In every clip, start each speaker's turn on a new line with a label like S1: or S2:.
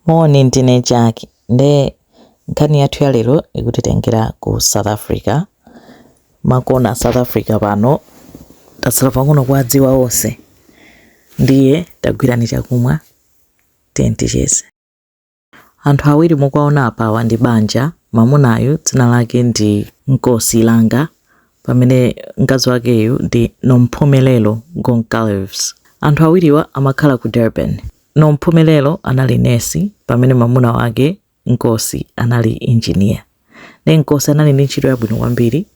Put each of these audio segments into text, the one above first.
S1: Moni, ndine Jack nde nkhani yathu ya lero ikutitengera ku South Africa. Makona a South Africa pano tatsala pang'ono kuwadziwa onse, ndiye tagwirani chakumwa tiyeni ticheze. Anthu awiri mukuwaona apawa ndi banja. Mamunayu dzina lake ndi Nkosi Langa pamene mkazi wakeyu ndi Nomphumelelo Goncalves. Anthu awiriwa amakhala ku Durban. Nomphumelelo anali nesi pamene mwamuna wake Nkosi anali injiniya. Ndiye Nkosi anali ndi ntchito yabwino kwambiri,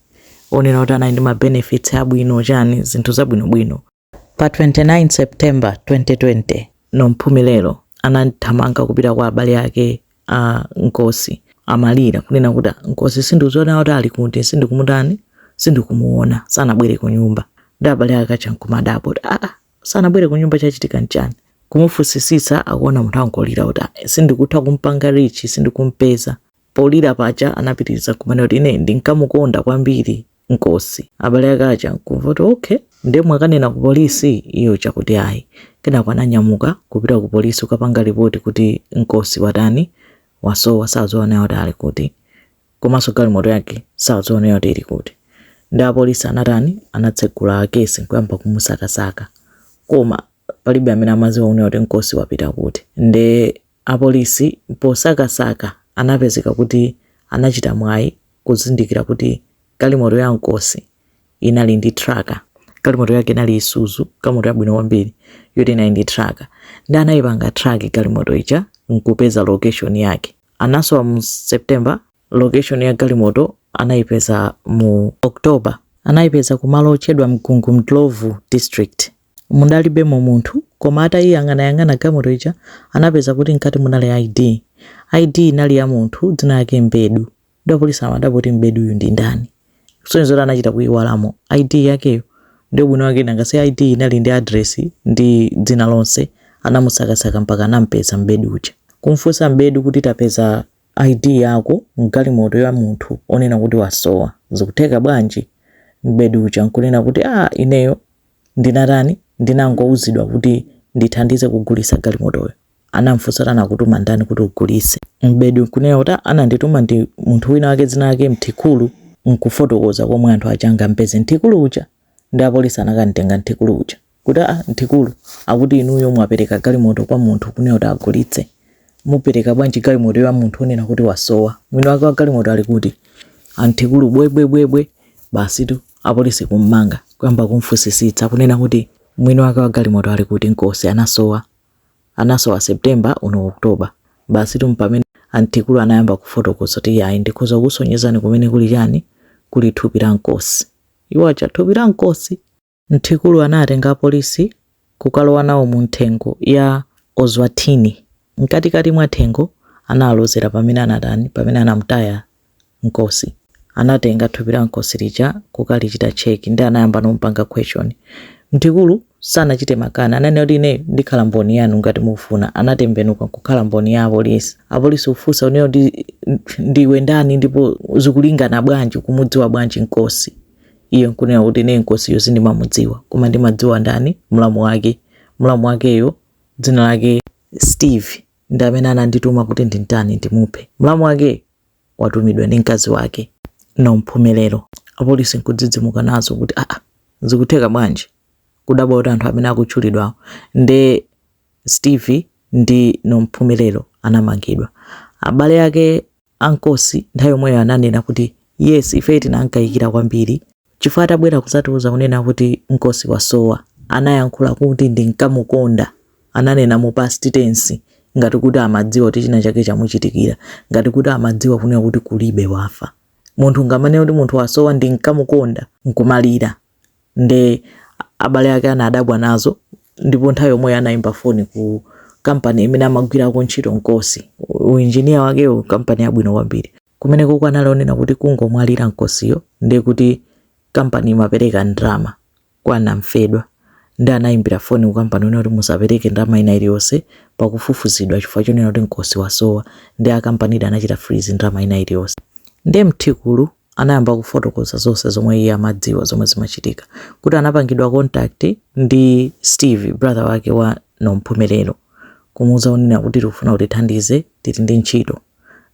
S1: yonena kuti anali ndi ma benefits abwino chani, zinthu zabwinobwino. Pa 29 September 2020, Nomphumelelo anathamanga kupita kwa abale ake a Nkosi akulira kunena kuti Nkosi sindikudziwa kuti ali kuti, sindikumutani, sindikumuona, sanabwere kunyumba. Nde abale ake aja nkumadabwa kuti aa, sanabwere kunyumba chachitika nchani kumufunsisitsa akuona munthu akungolira kuti "Ah, sindikutha kumpanga reach sindikumpeza polira paja anapitiriza kumanena kuti ine ndinkamukonda kwambiri nkosi abale ake aja nkumva kuti okay nde mwakanena ku polisi iye akuti ayi kenako ananyamuka kupita ku polisi kukapanga ripoti kuti nkosi watani wasowa sakudziwa naye kuti ali kuti komanso galimoto yake sakudziwanso kuti ili kuti nde apolisi anatani anatsegula kesi nkuyamba kumusakasaka koma palibe amene amaziwa kunena kuti nkosi wapita kuti nde apolisi posakasaka anapezeka kuti anachita mwayi kuzindikira kuti galimoto ya nkosi inali ndi traka galimoto yake inali isuzu galimoto yabwino kwambiri yoti inali ndi traka nde anayipanga traki galimoto ija nkupeza location yake anasowa mu September, location ya galimoto anaipeza mu October. Anaipeza kumalo otchedwa Mgungundlovu district. Mudalibemo munthu koma atayiyang'anayang'ana galimoto ija anapeza kuti mkati munali ID. ID inali ya munthu dzina lake Mbedu. Nde apolisi nkumadabwa kuti Mbedu uyu ndi ndani? Zikusonyeza kuti anachita kuiwalamo ID yakeyo. Ndiye ubwino wake nanga si ID inali ndi adiresi ndi dzina lonse. Anamusakasaka mpaka anam'peza Mbedu uja. Kum'funsa Mbedu kuti tapeza ID yako m'galimoto ya munthu onena kuti wasowa. Zikutheka bwanji? Mbedu uja n'kunena kuti, Ah ineyo ndinatani? Ndinangouzidwa kuti ndithandize kugulitsa galimotoyo. anamfunsa kuti anakutuma ndani kuti ugulise mbedu nkunena kuti "Ah, anandituma ndi munthu wina wake dzina lake mthikulu nkufotokoza komwe anthu aja angampeze mthikulu uja nde apolisi anakamtenga mthikulu uja kuti a mthikulu akuti inuyo mwapereka galimoto kwa munthu kunena kuti agulitse mukupereka bwanji galimoto ya munthu onena kuti wasowa mwini wake wa galimoto ali kuti a mthikulu bwebwebwebwe basitu apolisi kummanga kuyamba kumfunsisitsa kunena kuti mwini wake wa galimoto ali kuti nkosi anasowa anasowa September uno October basi tu mpamene antikulu anayamba kufotokoza kuti iyayi ndikhoza kusonyezani kumene kuli chani kuli thupi la nkosi iwo ocha thupi la nkosi mtikulu anatenga apolisi kukalowa nawo mu mthengo ya ozwatini mkatikati mwa thengo analozera pamene anatani pamene anamtaya Nkosi anatenga thupi la Nkosi lija kukalichita check ndi anayambano kumupanga question Mtikulu sanachite makani ananena kuti ineyo ndikhala mboni yanu ngati mufuna anatembenuka nkukhala mboni ya apolisi apolisi kufunsa kunena kuti ndiwe ndani ndipo zikulingana bwanji kumudziwa bwanji Nkosiyo nkunena kuti ine Nkosiyo sindimamudziwa koma ndimadziwa ndani mlamu wake mlamu wakeyo dzina lake Steve ndi amene anandituma kuti ndintani ndimuphe mlamu wakeyo watumidwa ndi mkazi wake Nomphumelero apolisi nkudzidzimuka nazo kuti aa ah, ah, zikutheka bwanji kudabwa kuti anthu amene akutchulidwawo nde steve ndi Nomphumelero anamangidwa abale ake a Nkosi nthawi yomweyo ananena kuti yes ife tinankayikira kwambiri Chifukwa atabwera kudzatiuza kunena kuti Nkosi wasowa, anayankhula kuti ndinkamukonda, ananena mu past tense ngati kuti amadziwa kuti china chake chamuchitikira, ngati kuti amadziwa kunena kuti kulibe wafa. Munthu ungamanene kuti munthu wasowa ndinkamukonda nkumalira nde abale ake anadabwa nazo ndipo nthawi yomweyo anaimba foni ku company imene amagwirako ntchito Nkosi, u engineer wakewo, company yabwino kwambiri. Kumenekoko anali onena kuti kungomwalira Nkosiyo ndiye kuti kampani imapereka ndalama kwa namfedwa ndi anayimbira foni ku kampaniko kunena kuti musapereke ndalama ina iliyonse pakufufuzidwa kaye chifukwa chonena kuti Nkosi wasowa ndiye akampanidi anachita freeze ndalama ina iliyonse. Ndiye Mthikulu anayamba kufotokoza zonse zomwe iye amadziwa zomwe zimachitika kuti anapangidwa contact ndi Steve brother wake wa Nomphumelelo kumuuza kunena kuti tikufuna utithandize tili ndi ntchito.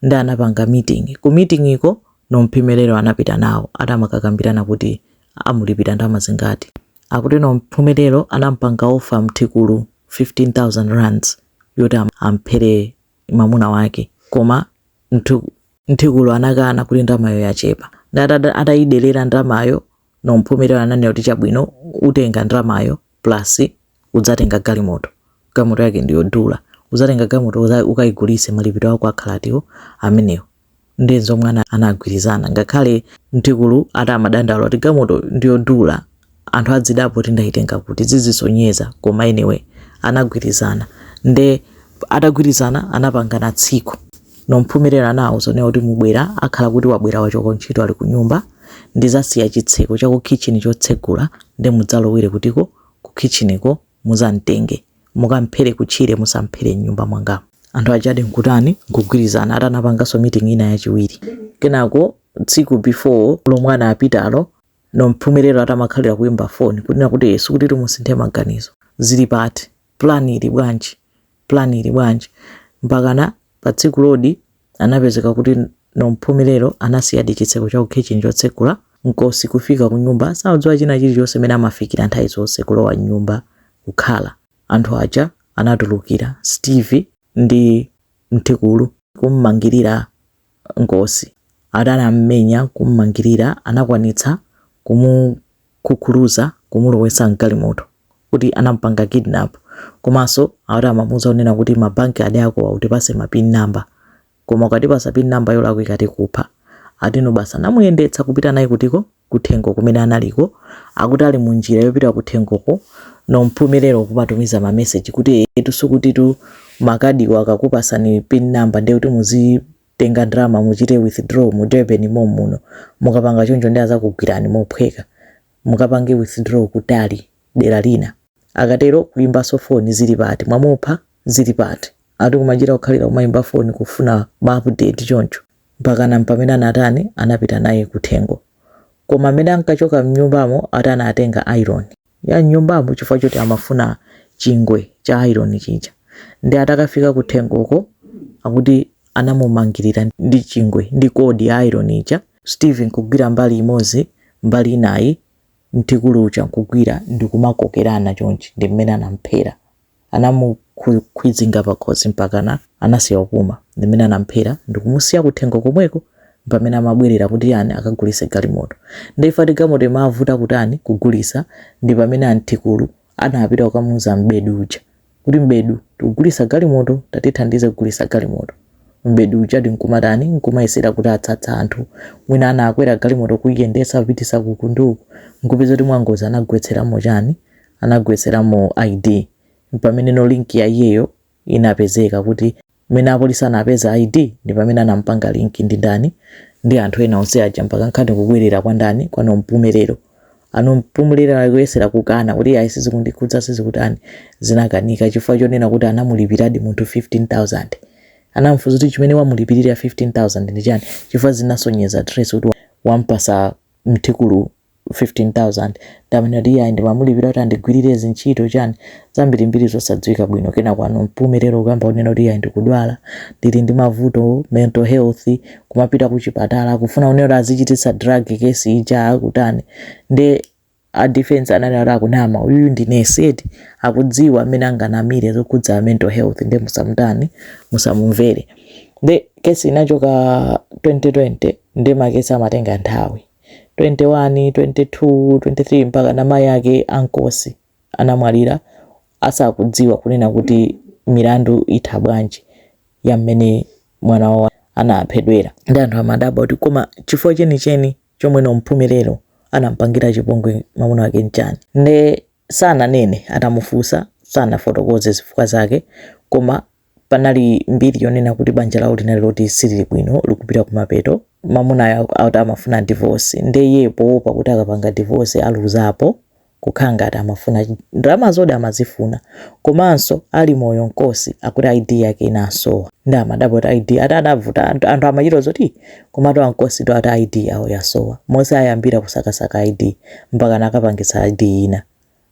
S1: ndi anapanga meeting ku meetingko nomphumelelo anapita nawo ati amakakambirana kuti amulipira ndalama zingati akuti nomphumelelo anampanga offer mthikulu 15000 rands kuti am- amphere mamuna wake koma mthu- mthikulu anakana kuti ndalamayo yachepa nde ati ada- atayiderera ndalamayo nomphumelelo ananena kuti chabwino utenga ndalamayo plus udzatenga galimoto galimoto yake ndiyodula udzatenga galimoto ukayigulitse malipiro ako akhala atiwo amenewo ndi zomwe anagwirizana ngakhale mtikulu ati amadandaula kuti galimoto ndiyodula anthu azidabwa kuti ndayitenga kuti zizisonyeza koma anyway anagwirizana nde atagwirizana anapangana tsiku nomphumelelo anawauza kunena kuti mubwera akhala kuti wabwera wachoka ntchito ali kunyumba ndizasiya chitseko cha kukhitchini chotsegula nde mudzalowere kuti uko ku kitchen ko muzamtenge mukamphere ku tchire musamphere mnyumba mwangamu. Anthu ajadi nkutani nkugwirizana ati anapanganso meeting ina yachiwiri. Kenako tsiku before lomwe anapitalo Nomphumelelo atamakhalira kuimba phone kunena kuti ee sikutitu timusinthe maganizo. Zili pati? Plan ili bwanji? Plan ili bwanji? Mpakana patsikulodi anapezeka kuti Nomphumelelo anasiyadi chitseko cha kukhitchini chotsegula nkosi kufika kunyumba sakudziwa china chilichonse mene amafikira nthawi zonse kulowa mnyumba kukhala anthu aja anatulukira steve ndi mthikulu kummangirira nkosi ati anammenya kummangirira anakwanitsa kumu kukuluza kumulowesa mgalimoto kuti anamupanga kidnap komaso akuti amamuuza kunena kuti ma bank card akowa utipase ma pin number koma ukatipasa pin number yolakwika tikupha ati no basi anamuyendetsa kupita naye kutiko kuthengo kumene anali koma akuti ali munjira yopita kuthengoko Nomphumelelo kumatumiza ma message kuti etu sukutitu makadiwo, akakupasani pin number ndiye kuti muzi tenga ndalama muchite withdraw mu Durban mommuno mukapanga choncho nde adzakugwirani mophweka mukapange withdraw kutali dera lina akatero kuimbaso phone zili pati mwamupha zili pati ati kumachita kukhalira kumaimba phone kufuna ma update choncho mpakana mpamene anatani anapita naye kuthengo koma mmene ankachoka mnyumbamo ati anatenga iron ya nyumbamo chifukwa choti amafuna chingwe cha ayironi chija ndi atakafika kuthengoko, akuti anamumangirira ndi chingwe ndi kodi ya ayironi ija steven kugwira mbali imodzi mbali inayi mthikulu uja nkugwira ndikumakokerana chonchi ndi mmene anamphera Anamukhwizinga pakhosi mpakana anasiya kupuma. Ndimene anamphera ndikumusiya kuthengo komweko mpamene amabwerera kuti an akagulise galimoto. Nde ifa ati galimoto imavuta kutani kugulisa ndipamene aMthikulu anapita kukamuuza m'bedi uja kuti m'bedu tikugulisa galimoto tatithandiza kugulisa galimoto. M'bedi ujadi nkumatani nkumayesera kuti atsatsa anthu mwina ana akwera galimoto kuiyendesa kupitisa kuku ndi uku nkupeza kuti mwangozi anagwetseramo chani? anagwetseramo ID mpamene no link ya iyeyo inapezeka kuti mene apolisi anapeza ID ndi pamene anampanga link ndi ndani ndi anthu ena onse aja mpaka nkhani kubwerera kwa ndani kwa Nomphumelelo aNomphumelelo akuyesera kukana kuti ayi sizikundikhudza sizikutani zinakanika chifukwa chonena kuti anamulipiradi munthu 15000 anamfunsa kuti chimene wamulipirira 15000 ndi chani chifukwa zinasonyeza trace kuti wampasa mthikulu 15000 ndamene kuti iyayi ndimamulipira kuti andigwirire zintchito chani zambirimbiri zosadziwika bwino kenako a Nompumelelo kuyamba kunena kuti iyayi ndikudwala ndili ndi mavuto mental health kumapita kuchipatala akufuna kunena kuti azichititsa drug kesi ija akutani nde a defense ananena kuti akunama uyuyu ndi nesi eti akudziwa mmene anganamire zokhudza mental health nde musamutani musamumvere nde kesi inachoka 2020 nde makesi amatenga nthawi 21, 22, 23 mpaka na mayi ake a Nkosi anamwalira asakudziwa kunena kuti milandu itha bwanji ya mmene mwana wawo anaphedwera. Nde anthu amadabwa kuti koma chifukwa chenicheni chomwe Nompumelelo anampangira chipongwe mamuna wake n'chani? Nde Sananene atamufunsa, sanafotokoze zifukwa zake, koma panali mbiri yonena kuti banja lawo linali loti silili bwino, likupita kumapeto. Mamunayo akuti amafuna divorce, nde iyeyo powopa kuti akapanga divorce aluzapo, kukhala ngati amafuna ndalamazo di amazifuna, komanso ali moyo nkosi akuti ID yake inasowa, nde amadabwa kuti ID, ati adavuta, anthu amachita zoti. Komatu a Nkosiwo ati ID yawo yasowa. Monse ayambira kusakasaka ID mpaka anakapangitsa ID ina.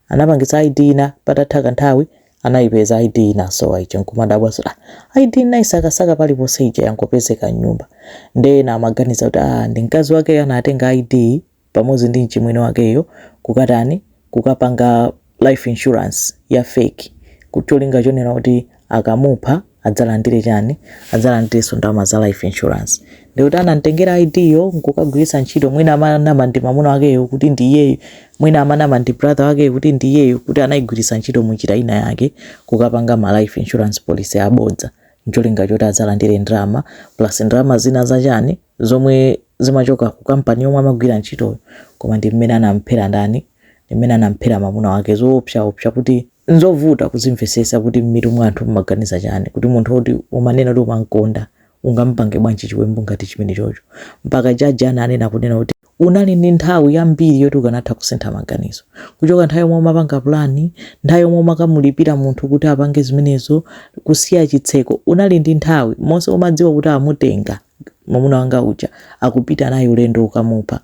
S1: Anapangitsa ID ina patatha kanthawi anaipeza ID inasowa ija nkumadabwa zoti ah ID nnaisakasaka paliponse ija yangopezeka m'nyumba. Nde ena amaganiza kuti ah ndi mkazi wakeyo anatenga ID pamodzi ndi mchimwene wakeyo kukatani kukapanga life insurance ya fake ncholinga chonena kuti akamupha adzalandire chani adzalandirenso ndalama za life insurance ndikuti anamtengera id yo nkukagwiritsa ntchito mwina amanama ndi mamuna wakeyo kuti ndi iyeyo mwina amanama ndi brother wakeyo kuti ndi iyeyo kuti anayigwiritsa ntchito munjira ina yake kukapanga ma life insurance policy abodza ncholinga choti adzalandire ndalama plus ndalama zina zachani zomwe zimachoka ku kampani yomwe amagwira ntchitoyo koma ndi mmene anamphera ndani ndi mmene anamphera mamuna wake zoopsa opsa kuti nzovuta kuzimvesesa kuti mmitu mwa anthu mmaganiza chani kuti munthu woti umanena kuti umankonda ungampange bwanji chiwembu ngati chimene chocho mpaka jaji ananena kunena kuti unali ndi nthawi yambiri yoti ukanatha kusintha maganizo kuchoka nthawi yomwe umapanga pulani nthawi yomwe umakamulipira munthu kuti apange zimenezo kusiya chitseko unali ndi nthawi monse umadziwa kuti amutenga mamuna wanga uja akupita naye ulendo wokamupha.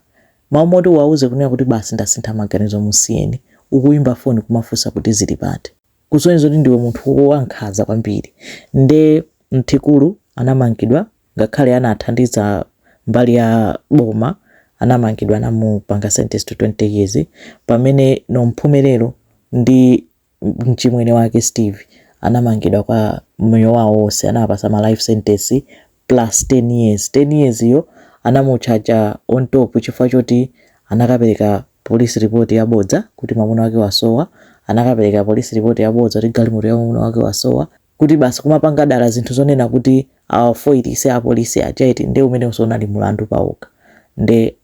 S1: Mwina mmoti uwauze kunena kuti basi ndasintha maganizo musiyeni. Ukuyimba foni kumafunsa kuti zili pati. Kusonyeza kuti ndiwe munthu wankhaza kwambiri. Nde Mthimkhulu anamangidwa ngakhale anathandiza mbali ya boma anamangidwa anamupanga sentenced 20 years pamene Nomphumelelo ndi. mchimwene wake Steve anamangidwa kwa moyo wawo wonse anawapasa ma life sentence plus 10 years 10 years yo anamutchaja on top chifukwa choti anakapereka police report yabodza kuti mamuna wake wasowa anakapereka police report yabodza kuti galimoto ya mamuna wake wasowa kuti basi kumapanga dala zinthu zonena kuti awafoilise apolisi aja eti nde umenenso unali mulandu pawokha nde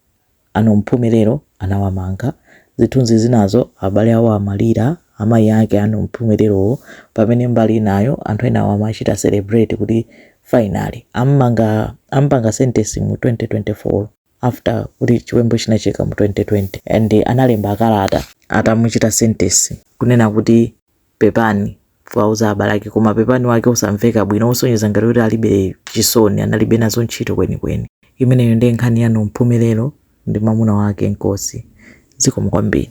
S1: A Nompumelelo anawamanga. Zithunzi zinazo, Abale a omwalira, amayi ake a Nompumelelowo, pamene mbali inayo, anthu enawo amachita celebrate kuti finally ammanga ampanga sentence mu 2024 after kuti chiwembu chinachitika mu 2020 and analemba kalata atamuchita sentence kunena kuti. Pepani kuwauza abale ake koma pepani wake osamveka bwino osonyeza ngati kuti alibe chisoni analibe nazo ntchito kwenikweni. Imeneyo ndiye nkhani ya Nompumelelo ndi mamuna wake Nkosi. Zikomo kwambiri.